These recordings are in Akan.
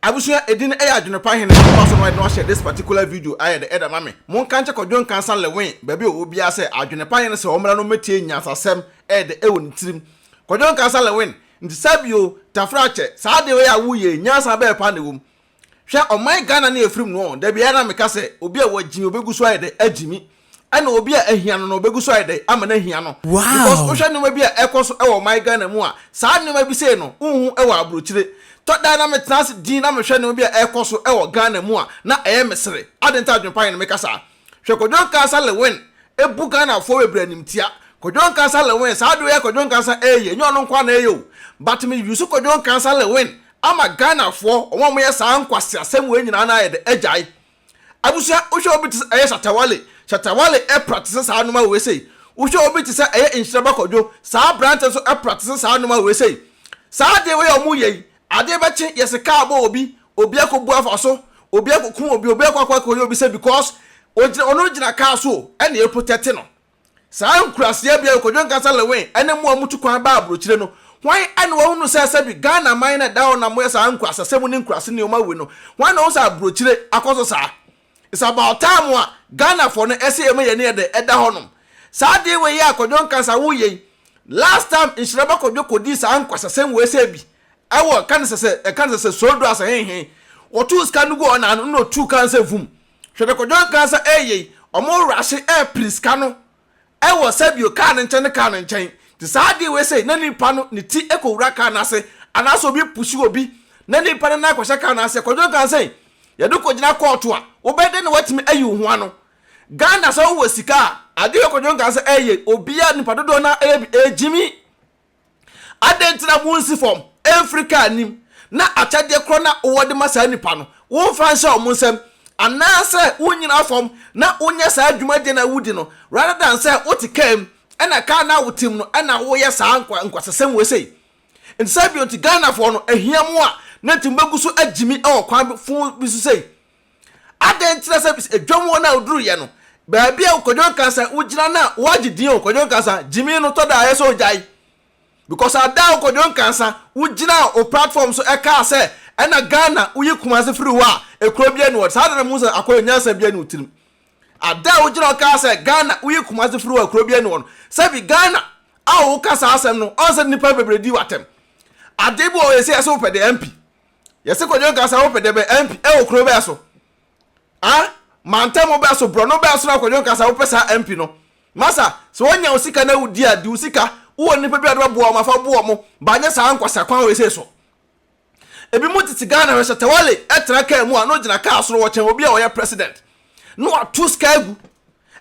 Abusua edin no ɛyɛ adwene pa hene ɔfa so no ɛde no ahyɛ this particular video ayɛ dɛ ɛda ma me mo nka nkyɛ kwadwo nkansa lewin baabi a ɔwɔ biara sɛ adwene pa hene sɛ ɔmmra no mɛtie nyansasɛm ɛyɛ dɛ ɛwɔ ne tirim kwadwo nkansa lewin nti saa bio tafra akyɛ saa adeɛ wei a wo yɛ yi nyansa bɛɛ paa na ɛwɔ mu hwɛ ɔman ghana ne ɛfirim noɔ da biara na meka sɛ obi a wagyimi ɔbɛgu so ayɛ dɛ agyimi Ɛna obi a ahia no no ɔbɛgu so ayɛ dɛn ama no ahia no because Wow! wohwɛ nneɛma bi a ɛkɔ so wɔ ɔman Ghana mu a saa nneɛma bi sei no wonhu wɔ abrokyire tɔ da na metena ase din na mehwɛ nneɛma bi a ɛkɔ so wɔ Ghana mu a na ɛyɛ me sere adɛn nti a adwenpa yɛ no meka saa hwɛ Kwadwo Nkansah Lewin ɛbu Ghanafoɔ bebree animtia Kwadwo Nkansah Lewin saa adeɛ ɔyɛ Kwadwo Nkansah ɛɛyɛ ɛnyɛ ɔno nko a na ɛyɛ o but me use Kwadwo Nkansah Lewin ama Ghanafoɔ wɔn a wɔyɛ saa nkwaseasɛm wei nyinaa no ayɛ dɛn agyae Abusua, wohwɛ obi te sɛ ɛyɛ Shatta Wale, Shatta Wale pra te sɛ saa nnoɔma wei sei. Wohwɛ obi te sɛ ɛyɛ Nhyira Ba Kwadwo, saa aberantɛ nso pra te sɛ saa nnoɔma wei sei. Saa adeɛ wei a wɔyɛ yi, adeɛ bɛkye, yɛse kaa bɔ obi, obi akɔbu afa so, obi akɔkum obi, obi akɔ akɔyɛ obi sɛ because ɔgyina, ɔno gyina kaa so o, ɛna yɛprotɛte no. Saa nkuraseɛ bea yi, Kojo Nkasa Lewin ne mo a motu kwan ba aburokyire no, hwan na wahunu sɛ sɛbi Ghana man na ɛda hɔ na moyɛ saa nkurasasɛm ne nkurase nneɛma wei no? Hwan na ɔhu sɛ aburokyire akɔ so saa? It's about time a Ghanafoɔ no ɛsɛ yɛma yɛn ani yɛ dɛ ɛda hɔnom. Saa ade wei a Kojo Nkasa woyɛ yi, last time Nhyiraba Kojo kɔdii saa nkurasasɛm wei sɛ bi ɛwɔ ɛka ne sɛ sɛ ɛka ne sɛ sɛ Sodua sɛ henhen, wɔtoo sika no guu ɔnan ano na ɔtuu kaa no sɛ vum. Hwɛ dɛ kwadwo ankaasa ɛɛyɛ yi ɔmo wura se ɛɛpere sika no ɛwɔ sɛ bio kaa ne nkyɛn ne kaa ne nkyɛn te saa adee wei sei na nipa no ne ti ɛkɔ wura kaa no ase anaase obi pusu obi na nipa no nan kɔhyɛ kaa no aseɛ kwadwo ankaasa yi yɛde kɔ gyina kɔɔto a wobɛyɛ dɛn na watumi ayi wo ho ano Ghana sɛ wowɔ sika a adee wei kwadwo ankaasa ɛɛyɛ yi obiaa nipa dodoɔ no ara ɛyɛ bi ɛɛgyimi Adɛn nti na wonsi fam mfiri kar anim, na akyɛdeɛ korɔ no a wɔde ma saa nnipa no, womfa nhyɛ wɔn nsam? Anaasɛ wonnyina fam na wonyɛ saa dwumadie no a wodi no, rather than sɛ wote kar mu, ɛna kar no a wote mu no ɛna woyɛ saa nkwasasɛm wei sei? Nti sɛ bio nti Ghanafoɔ no ahia mo a, na nti mobɛgu so agyimi wɔ kwan fofo bi so sei? Adɛn nti na sɛ dwam hɔ no a woduruyɛ no, baabi a Kwadwo Nkansah wogyina no a woagye din o, Kwadwo Nkansah, gyimii no tɔ da a ɛyɛ sɛ ogyae? Because ada a Kwadwo Nkansah wogyinaa wo platform so ɛkaa sɛ ɛna Ghana woyi Kumase firi hɔ a, ekuro biara ni hɔ, saa da no mehu sɛ Akol nyansa biara ni wo tirim. Ada a wogyina hɔ kaa sɛ Ghana woyi Kumase firi hɔ a, ekuro biara ni hɔ no, sɛbi Ghana a woka saa asɛm no, ɔn sɛ nnipa bebree di wo atɛm? Ade bi wɔ hɔ a ɛsɛ yɛ sɛ wopɛ de MP. Yɛse kɔdwo nkasa wo pɛdɛ bɛ MP ɛwɔ kuro bɛ so a mantamu bɛ so brɔno bɛ so na kɔdwo nkasa wo pɛ saa MP no masa sɛ wɔnya wo sika na wo di a di wo sika wo wɔ nipa bi a de bɛ boa wɔn afa boa wɔn ba nyɛ saa nkwasa kwan wei sei so ebi mu tete Ghana hwɛ sɛ tawale ɛtena kaa mu a na ogyina kaa soro wɔkyɛn obi a wɔyɛ president na wato sika agu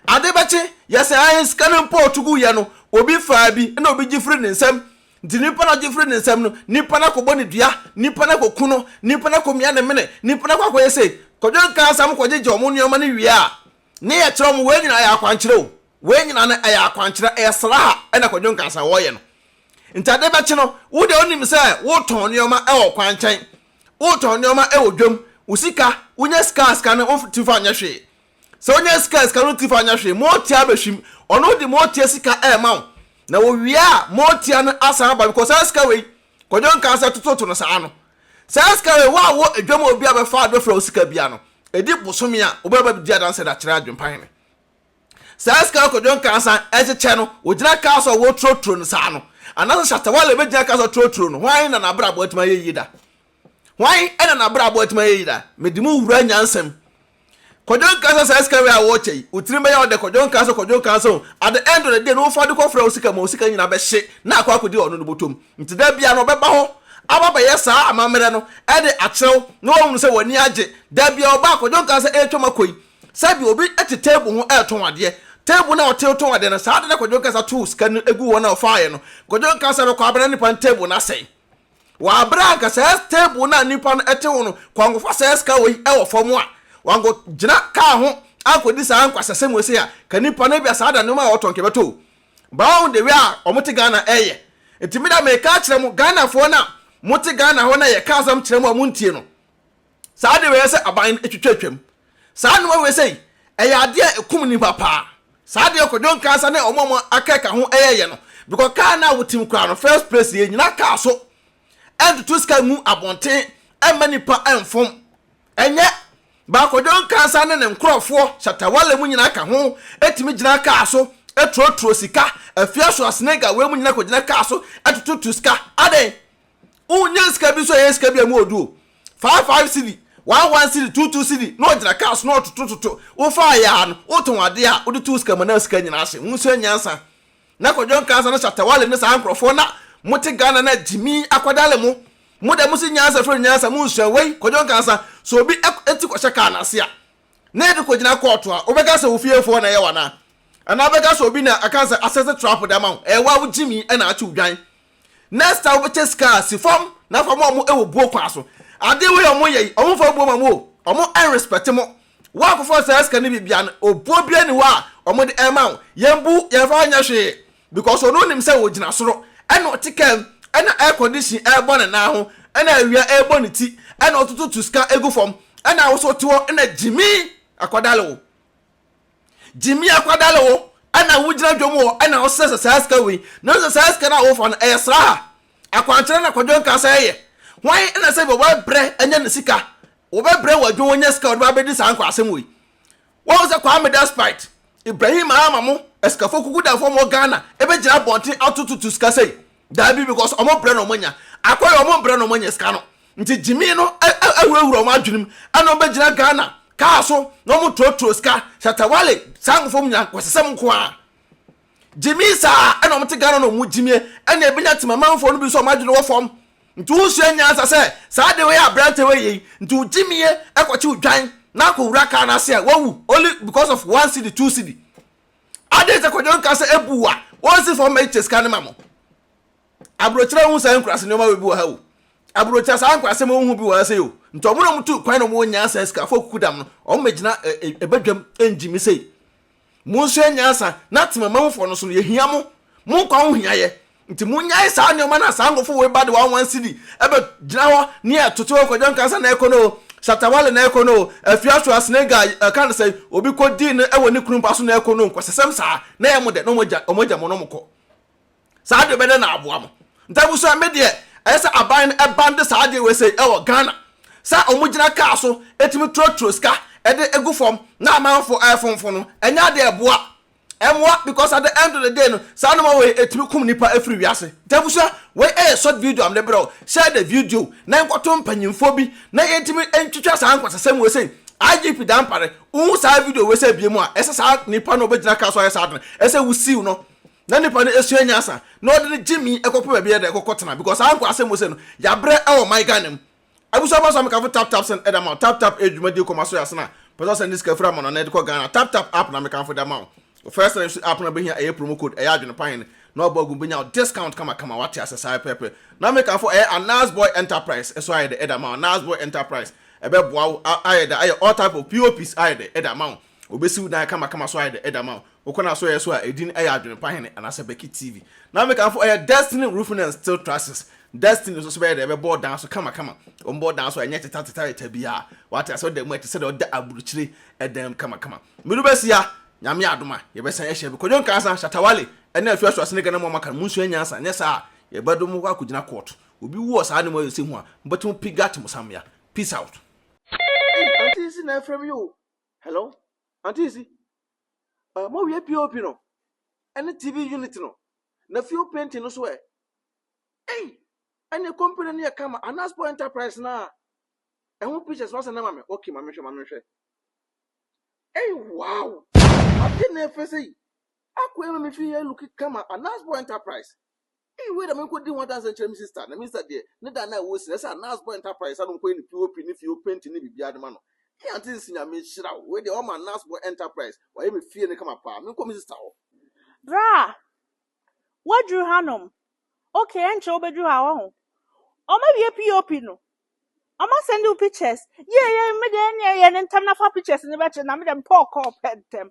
ade bɛkye yɛsɛ ahe sika no mpo ɔto gu yɛ no obi faa bi na obi gye firi ne nsam Nti nipa no ɔgye firi ne nsam no, nipa no akɔbɔ no dua, nipa no akɔku no, nipa no akɔmia ne mene, nipa no akɔ akɔyɛ sei. Kwadwo nkaa sɛ wɔkɔgyegye wɔn nneɛma no wie a, ne yɛkyerɛ wɔn. Wei nyinaa ɛyɛ akwankyerɛ o. Wei nyinaa no ɛyɛ akwankyerɛ, ɛyɛ sraha na Kwadwo nkaa sɛ wɔreyɛ no. Nti ade bɛkye no, wo deɛ wonim sɛ wotɔn nneɛma wɔ kwankyɛn, wotɔn nneɛma wɔ dwam, wo sika, wonya sika a sika no womfa nyɛ hwee. Sɛ wonya sika a sika no ntew fa anyɛ hwee, moatia bɛhwim. Ɔno de moatia sika rema wo. Na wɔwie a, moatia no asan aba because saa sika wei, Kwadwo nkaa sɛ tototo no saa no, saa sika wei wo a wɔ adwam a obi a bɛfa ade bɛfra wo sika bia no, ɛdi bosome a wobɛba bɛdi adanse de akyerɛ adwempa hene. Saa sika a Kwadwo nkaa san ɛkyekyɛ no, wogyina kaa so a wɔreturoturo no saa no, anaasɛ Shatta Wale bɛgyina kaa so aturoturo no, hwan na n'abrabɔ atumi ayɛ yie da? Hwan na n'abrabɔ atumi ayɛ yie daa? Mede mu wura nyansam. Kwadwo nkaa sɛ saa sika wei a worekyɛ yi, wo tirim bɛyɛ wo dɛ, Kwadwo nkaa sɛ, Kwadwo nkaa sɛ o, at the end of the day no wofa de kɔfrɛ wo sika ma wo sika nyinaa bɛhye na akɔ akɔdi ɔno no bɔtɔ mu. Nti da biara no ɔbɛba hɔ aba abɛyɛ saa amammerɛ no de akyerɛ wo na wahunu sɛ w'ani agye. Da biara ɔba a, Kwadwo nkaa sɛ, ɛretwam akɔ yi, sɛbi obi te table ho retɔn adeɛ, table no a ɔte retɔn adeɛ no, saa da no a Kwadwo nkaa sɛ atoo sika no agu hɔ na ɔfaeɛ no, Kwadwo nkaa sɛ ɛbɛkɔ abɛda nipa no table no asɛe. Wɔ abere a anka saa table no a nnipa no te ho no, kɔnkɔfa saa sika wei wɔ fam a, wankɔgyina kaa ho ankɔdi saa nkwasasɛm wei sei a, ka nnipa no ebia saa da nneɛma a wɔtɔ nka ɛbɛtɔ o. But wɔn de wei a wɔte Ghana ɛyɛ. Nti me da meka akyerɛ mo Ghanafoɔ no a mote Ghana hɔ na yɛka asɛm kyerɛ mo a montie no. Saa de bɛyɛ sɛ aban no atwitwa atwam. Saa nnoɔma wei sei, ɛyɛ adeɛ a ɛkum nnipa paa. Saa deɛ Kwadwo Nkansah ne wɔn a wɔn aka ka ho yɛeɛ no, bikɔ kaa no a wɔtim koraa no, first place yɛ nnyina kaa so ntutu sika ngu abɔnten mma nnipa mfom. Ɛnyɛ Ba Kwadwo Nkansah ne ne nkorɔfoɔ, Shatta Wale mu nyina ka ho, tumi gyina kaa so turoturo sika, Afia Schwarzenegger wei mu nyina kɔgyina kaa so tututu sika. Adɛn? Wonya sika bi nso a ɛyɛ sika bi a ɛmu ɔdu o. Five five cedi, one one cedi, two two cedi na ɔgyina kaa so na ɔtotototo. Wofaa yɛ ara no, wotɔn adeɛ a wode too sika mu na sika nyinaa hye. Monsua nyansa. Na Kwadwo Nkansah ne Shatta Wale ne saa nkurɔfoɔ na mote Ghana na gyimi akwadale mo. Mo deɛ mose nyansa frɛ no nyansa, monsua. Wei, Kwadwo Nkansah, sɛ obi ti kɔhyɛ kaa no ase a, na yɛde kɔgyina kɔɔto a, wobɛka sɛ wo fiefoɔ na ɛyɛ wo anaa? Anaa wobɛka sɛ obi na aka sɛ asɛse trap de ama wo? Ɛyɛ wo a wo gyimi na akye wo dwan. Next time wobɛkyɛ sika a si fam na fa ma wɔn wɔ buo kwan so. Ade wei a wɔyɛ yi, wɔmfa buo ma mo o, wɔn ɛnrespɛte mo. Woakɔfa saa sika no biribi a no, obuo biara nni hɔ a wɔde ɛrema wo. Yɛmbu yɛmfa nyɛ hwee because ɔno nim sɛ ogyina soro ɛna ɔte kaa mu ɛna air condition ɛrebɔ ne nan ho ɛna awia ɛrebɔ ne ti ɛna ɔtototo sika gu fam ɛna wo nso wote hɔ ɛna gyimii akɔdale wo. Gyimii akwadaa na wo ɛna wogyina dwom hɔ ɛna wosɛ sɛ saa sika wei na wosɛ saa sika no a wofa no ɛyɛ sraha akwankyerɛ na kwadwo nka sɛ ɛyɛ hwan ɛna sɛ bi wɔbɛbrɛ ɛnyɛ ne sika wɔbɛbrɛ wɔ adwo wɔnyɛ sika wɔde bɛabɛdi saa nkɔ asɛm wei wɔn sɛ Kwame Despite Ibrahim ama mo asikafo kuku da fam wɔ Ghana ɛbɛgyina abɔnten atototo sika sɛi Daabi because ɔmo brɛ na ɔmo anya. Akwa yɛ ɔmo brɛ na ɔmo anya sika no. Nti gyimii no awurawura ɔmo adwene mu ɛna ɔmo bɛgyina Ghana kaa so na ɔmo turotuo sika. Shatawale saa nkɔfoɔ mu nyinaa kwasasɛm nko ara. Gyimii saa ɛna ɔmo te Ghana na ɔmo gyimie ɛna ɛbɛnya timamanfoɔ no bi nso ɔmo adwene wɔ fam. Nti wosua nyansa sɛ saa de wei a aberante wei yei nti wo gyimie ɛkɔkye wo dwan na akɔwura kaa no ase a wawu only because of one cedi two cedi. Adɛn sɛ kwadwo nka sɛ ebu a wɔnsi fam ma ɛkyɛ sika no ma mo? Aburokyerɛ wohu saa nkurase nneɛma wɔ bi wɔ ha o. Aburokyerɛ saa nkurasɛm wohu bi wɔ ha sei o. Nti wɔn na wɔtu kwan na wɔn nyaa saa sikafo kukudam no. Wɔn mɛgyina ɛbɛdwam ɛngyi me sei. Monsua nyansa na tema ma mufo no so no yɛhia mo. Mo nkwa ho hia yɛ. Nti monyae saa nnoɔma no a saa nkɔfo woi ba de wɔn one cedi bɛ gyina hɔ ne yɛ toto o kwadwo nkansa na ɛkɔ no o shatta wale na ɛkɔ no o afia so a snega ɛka no sɛn obi kɔ dii no ɛwɔ ne kunu mpa so na ɛkɔ no o nkwasasɛm saa na ɛyɛ mo dɛ na ɔmo agya ɔmo agya mo na ɔmo kɔ saa deɛ bɛdɛ na aboa mo nti abusua me deɛ ɛyɛ sɛ aban no ɛban de saa adeɛ wei sɛi ɛwɔ Ghana sɛ ɔmo gyina kaa so ɛtumi turo turo sika ɛde egu fam na amanfo ɛfonfo no ɛnyɛ adeɛ ɛboa Ɛmmoa because at the end of the day no saa nnoɔma wei ɛtumi kum nnipa ɛfiri wiase. Nti abusua wei ɛyɛ short video a mede brɛ wo. Share the video na nkɔto mpanyinfoɔ bi na yɛntumi ntwitwa saa nkwasasɛm wei sei. IGP Dampare wohu saa video wei sɛ ɛbie mu a ɛsɛ saa nipa no ɔbɛgyina kaa so ayɛ saa ade no ɛsɛ wo siw no na nipa no ɛsua nyansa na ɔde no gyimi ɛkɔpɛ baabi ɛdɛ ɛkɔkɔ tena because saa nkwasɛm wei sei no yabrɛ ɛwɔ man Ghana mu. Abusua fa so a me kamfo tap tap send ɛda ma wo tap tap ɛyɛ dwuma die kɔma so yɛ ase na pɛ sɛ ɔsend ne sika firi amana na ɛde kɔ Ghana tap tap app na me kamfo da ma wo wɔ first na use app na bɛhia ɛyɛ promo code ɛyɛ adwene pa hene na ɔbɔ agu bɛnya wo discount kama kama wate ase saa pɛpɛ na me kamfo ɛyɛ Anas boy enterprise ɛso ayɛ dɛ ɛda ma wo Anas boy enterprise ɛbɛ boa wo ayɛ dɛ ayɛ all type of POPs ayɛ dɛ ɛda ma wo Obesi wo dan kamakama so ayɛ dɛ ama wo. Wokɔ n'asɔɛɛ so a, edin yɛ Adwenpa Hene anaasɛ Becky TV. Na me kanfo ɛyɛ Destiny Roofing and Steel Trusses. Destiny nso so bɛyɛ dɛ bɛbɔ wo dan so kamakama. Wɔn bɔ wo dan so a, ɛnyɛ tetɛtetɛtetɛ biara. Wate ase? Ɔda mu a ɛte sɛ dɛ ɔda aburukyire dan mu kamakama. Medu bɛsi a, Nyame adom a, yɛbɛsan ahyia bi. Kwadwo Nkansah, Shatta Wale ne Atuah Suase ne Ghana mu a moaka no, monsua nyansa, anyɛ saa a, yɛbɛdo mo kɔ akɔgyina kɔɔto. Obi wu wɔ saa anamuayɛsɛm mu a, mobɛto mo pigat mo sammea. Peace out. Ei, Auntie Nsi na ɛfrɛ me yi o. Hello, Auntie Isi. Uh, mo wie POP no. Any TV unit no. Na fuel painting no so ɛ. Hey, any company no yɛ kama. Anaspo Enterprise na. Ɛho pictures wasa na mame. Okay, mame hwɛ, mame hwɛ. Hey, wow. Ade na ɛfɛ sɛ yi. Akɔ ɛma me fi yɛ looking kama. Anaspo Enterprise. Hey, wei na menkɔdi ho adanse nkyerɛ me sista, na me sista deɛ, ne da no a ɛwɔ si no, ɛsɛ a Nasbɔ Enterprise a no nkɔyɛ ne POP ne fie o, painting ne biribiara de ma no. Hey, Auntie Nsi, Nyame nhyira wo, wei deɛ wɔma Nasbɔ Enterprise, wɔayɛ me fie no kama paa, menkɔ me sista hɔ. Bra! Woaduru hanom. Okay, ɛnkyɛ wobɛduru ha, wahu. Wɔawie POP no, wɔasɛnde wo pictures. Yei, yei, me deɛ ɛnneɛ yɛ no ntɛm na fa pictures no bɛkyerɛ, na me deɛ mepɛ ɔkɔɔ pɛ ntɛm.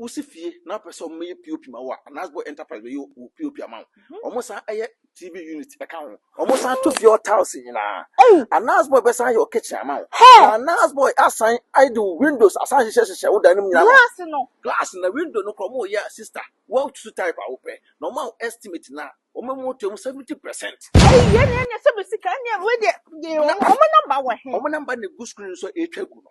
Wosi fie na wopɛ sɛ wɔyɛ POP ma wo a, Anasbo Enterprise bɛyɛ wo POP ama wo. Mhm. Wɔsan yɛ TV unit ka ho. Wɔsan to fie hɔ tiles nyinaa. Ei! Anasbo bɛsan yɛ wo kitchen ama wo. Hɛ! Na Anasbo asan ayɛ de wo windows asan hyehyɛ hyehyɛ wo dan no mu nyinaa. Glass no. Glass na window no kora wɔyɛ a sister, woatutu type a wopɛ. Na wɔma wo estimate no a, wɔma mu to mu 70%. Ei, yɛn na yɛnyɛ sɛ bɛ sika, ɛnneɛ wei deɛ, yɛ wɔn, wɔn namba wɔ he? Wɔn namba na egu screen so a ɛretwa gu no.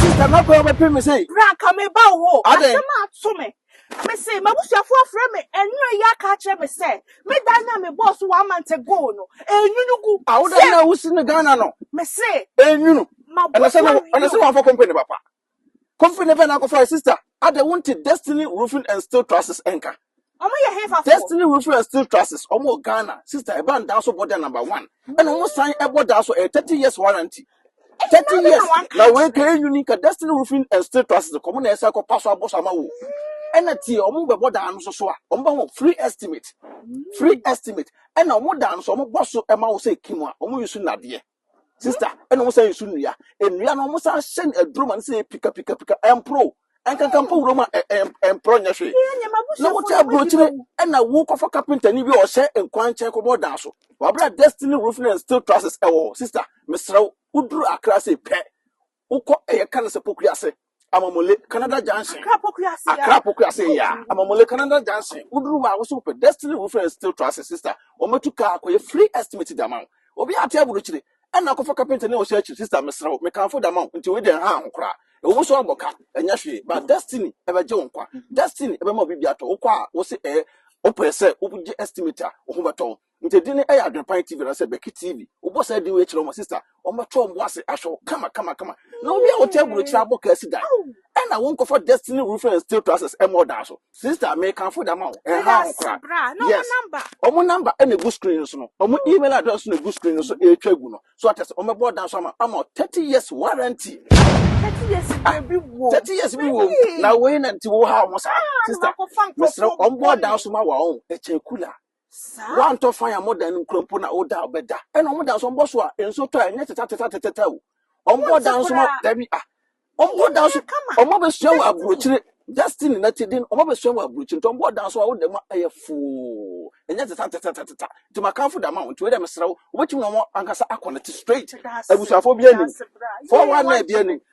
Sista Nokore wobɛpem me sɛ. Bra nka me ba wo hɔ. Adɛn? Asɛm a ato me. Me se m'abusuafo afrɛ me anwura yi aka akyerɛ me sɛ me dan no a me bɔɔ so one month ago no enwunu gu. A wo dan no a wosi no Ghana no. Me se. Enwunu. Ɛna sɛ no ɛna sɛ wɔamfa company papa. Company bɛn na akɔfa sista? Adɛn wonte Destiny Roofing and Steel Trusses nka? Ɔmo yɛ hefa fo? Destiny Wilson and Steel Trusses, ɔmo wɔ Ghana. Sister, ɛbaa ndaa so bɔ da number one. Ɛna ɔmo san ɛbɔ daa so, ɛyɛ thirty years warranty. Thirty years na wei ka yɛ uni ka Destiny Roofing and Steel Trusses ka ɔmo na ɛsan kɔ pa so abɔ so ama wo. Ɛna tie, ɔmo bɛbɔ daa no so so a, ɔmo bɛ ho free estimate. Free estimate. Ɛna ɔmo daa no so ɔmo bɔ so ɛma wo sɛ kim a, ɔmo use nadeɛ. Sister, ɛna wɔn san nsu nnua. Nnua no wɔn san hyɛ no aduro ma no sɛ pika pika pika ɛmporo. Ɛnkankan mpo wuram a ɛmporo nyɛ hwee. Na wote aburokyire ɛna wokɔfa kapentani bi a ɔhyɛ nkwan nkyɛn kɔbɔ ɔdan so. Wabra destiny roofing and steel trusses ɛwɔ hɔ. Sister, mesrɛ wo, woduru Accra sei pɛ, Wokɔ ɛyɛ ka no sɛ pokua ase amamole canada junction akra pokua ase akra pokua ase ya amamole canada junction woduru hɔ a woso wopɛ destiny roofing and steel trusses sister wɔmatu kaa akɔyɛ free estimate de ama wo obi ate aburukyire ɛna akɔfa kapenta ne ɔhyɛ akyiri sister meserɛ wo mekamfo de ama wo nti wei deɛ ha ho koraa ɛwɔ mu so abɔ ka ɛnyɛ hwee ba destiny ɛbɛgye wo nkwa destiny ɛbɛma obi bi atɔ wokɔ a wose ɛyɛ wopɛ sɛ wogye estimate a wo ho bɛtɔ wo Nti din no yɛ Adwenpan TV anaasɛ Bɛki TV. Wobɔ saa din wei kyerɛ wɔn a, sista, wɔbɛto wɔn bo ase ahwɛ wo kama kama kama. Na obi a ɔte aburokyiri abɔ kaa si dan. Ɛna wonkɔfa Destiny Roofing and Steel Trusses mmɔ dan so. Sista, mekamfo de ama wo. Ɛnha ho koraa. Yes. Wɔn number na egu screen no so no. Wɔn email address na egu screen no so ɛretwa agu no. So ate sɛ wɔbɛbɔ dan so ama ama 30 years warranty. 30 years ah, bi wɔ. 30 years bi wɔ. Na wei na nti wo ha wɔn saa. Ah, sista, mesrɛ wɔn bɔ dan so ma wɔn. Ɛkyɛ kula. Woantɔ fan a modan no nkura mpo na woda bɛda. Ɛna wɔn da nso wɔbɔ so a nsuo tɔ a ɛnyɛ tetɛtetɛtetɛw. Wɔbɔ da nso ma dabi a. Wɔbɔ da nso wɔn abɛsua wɔ aburokyire. Justin na ti den wɔn abɛsua wɔ aburokyire nti wɔbɔ da nso a woda mu a ɛyɛ foo. Ɛnyɛ tetɛtetɛtetɛta. Nti makamfo da ma wɔn nti wei dɛ mesrɛ wo wobɛtumi na wɔn ankasa akɔ ne te straight. Abusuafoɔ bi anim. Fɔwa na ebi anim.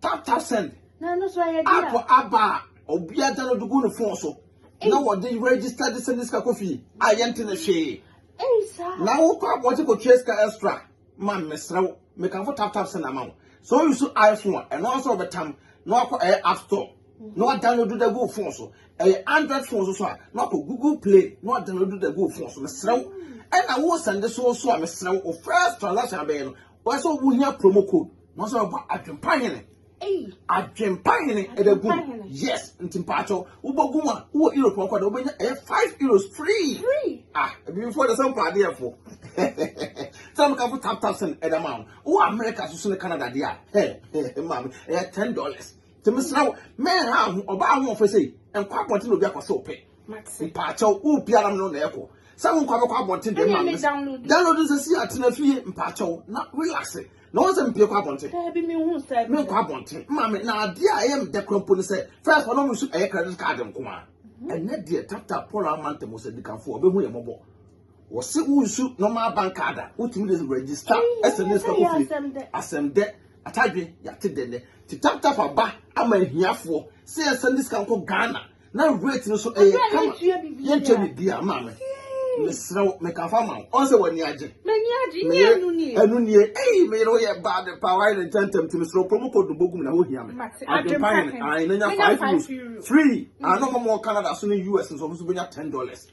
Tap tap send. Na ɛno so ayɛ deɛ. App aba a obiara gya no de gu ne phone so. Na wɔde register de send sika kɔ fie a yɛnte ne hwee. Ei saa. Na wokɔ abɔgye kɔtua sika extra ma mesrɛ wo mekamfo tap tap send ama wo. Sɛ wo use iPhone a ɛno ara sɛ wɔbɛtam na wakɔ ɛyɛ app store na wadownload da gu phone so. Ɛyɛ Android phone so so a na wakɔ Google Play na wadownload da gu phone so mesrɛ wo. Ɛna wo send so so a mesrɛ wo first transaction abɛyɛ no Wɔyɛ sɛ wo hia promo code. Wɔn sɛ wɔbɔ adwempa hene. Adwempa hene ɛbɛ gu. Yes, nti mpa akyɛw. Wobɔ gu mu a, wowɔ Europe ɔkɔ da, wobɛnya ɛyɛ five euros free. Ah, ebi fo de sɛ mpa adeɛ fo. Sɛ mo kanfo tap tap send ɛda ma wo. Wowɔ America so so ne Canada deɛ a, hɛ, hɛ, maame, ɛyɛ ten dollars. Nti mesrɛ wo, menha wo ho, ɔbaa ahoɔfɛ sei, nkɔ abɔnten na obi akɔhwɛ wo pɛ. Mpaakyɛw, wopie ara me no na ɛkɔ. Sɛ wo nkɔ bɛkɔ abɔnten deɛ ma me. Download sɛ si atena fie mpaakyɛw na relax. Na wɔn sɛ mpie kɔ abɔnten. Daabi me hu sɛ. Me nkɔ abɔnten. Ma me na adeɛ a ɛyɛ me dɛ kura mpo ne sɛ first wɔn mu nso ɛyɛ credit card nko a. Ɛnɛ deɛ tap tap pɔlɔ ama ntɛm sɛ dikanfoɔ ɔbɛhu yɛ mɔbɔ. Wɔse wonsu normal bank card a wotumi de register ɛsɛ ne sika kofie asɛm dɛ atadwe yɛate dɛ nɛ ti tap tap aba ama ahiafoɔ sɛ yɛnsɛn de sika nkɔ Ghana na rate no so ɛyɛ kama yɛntua biribi a maame mesrɛ wo mekafa ama wo ɔn sɛ w'ani agye meyere ɛno nie ei meyere woyɛ bad pa wayɛ ne ntɛntɛm ti mesrɛ promo code no bɔgum na hohia me adwempa hene ae na nya 5 euros free ano ma mɔ Canada so ne US nso ɔmo so bɛnya 10 dollars